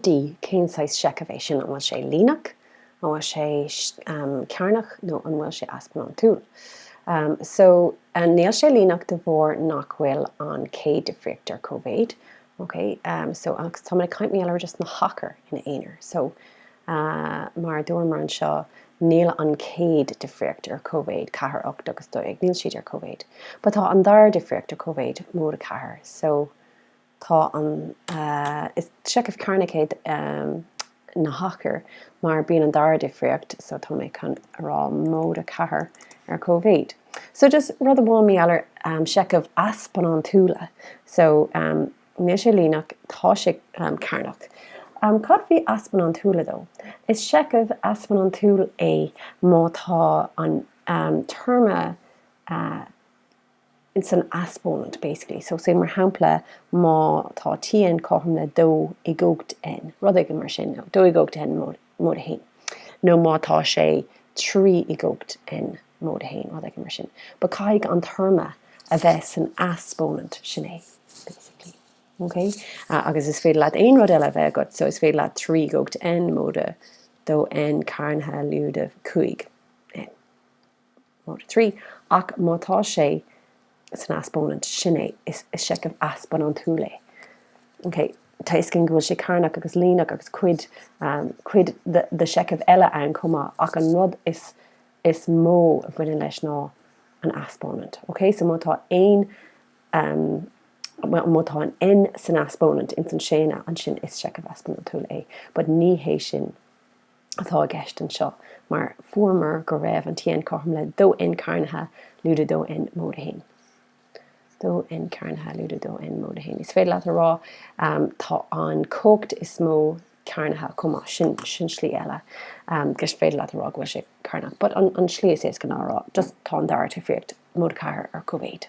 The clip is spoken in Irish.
D, Cén saghas seicheamh é sin? An bhfuil sé líneach? An bhfuil sé cearnach? Nó an bhfuil sé easpónantúil? So, níl sé líneach de bharr nach bhfuil an chéad difríocht ar cóimhéid. Ok? So, agus táimid ag caint, mar gheall ar, just na hachair ina aonar. So, mar a dúramar anseo, níl an chéad difríocht ar cóimhéid, ceathair, ocht agus dó dhéag, níl siad ar cóimhéid. But tá an dara difríocht ar cóimhéid, móide a ceathair. So. Tá an Is seicheamh cearnach é na hachair mar bíonn an dara difríocht so tá mé chun a rá móide 4 ar cóimhéid. So just rud amháin mar gheall ar seicheamh easpónantúla so níl sé líneach tá sé cearnach. Cad faoi easpónantúla though? Is seicheamh easpónantúil é má tá an téarma. ins an easpónant basically so say mar shampla má tá tn cothrom le dó i gcumhacht n rud éigin mar sin nó dó i gcumhacht n móide a haon nó má tá sé trí i gcumhacht n móide a haon rud éigin mar sin but caithfidh an téarma a bheith san easpónant sin é basically ok agus is féidir leat aon rud eile a bheith agat so is féidir leat trí i gcumhacht n móide a dó n cearnaithe lúide a cúig Nó 3, Ach má tá sé san easpónant, sin é, is seicheamh easpónantúil é. OK, tá a fhios againn go bhfuil sé cearnach agus líneach agus cuid, cuid de sheicheamh eile ann chomh maith ach an rud is, is mó a bhaineann leis ná an easpónant. OK, so má tá aon, má tá an N san easpónant, ins an séan, ansin is seicheamh easpónantúil é but ní hé sin. atá i gceist anseo, mar fuaireamar go raibh an Tn cothrom le dó N cearnaithe lúide dó N móide a haon. dó N cearnaithe lúide dó N móide a haon. Is féidir leat a rá, tá an cumhacht is mó cearnaithe chomh maith. Sin sin slí eile gur féidir leat a rá go bhfuil sé cearnach, but an an slí is éasca ná a rá just tá an dara difríocht móide ceathair ar cóimhéid.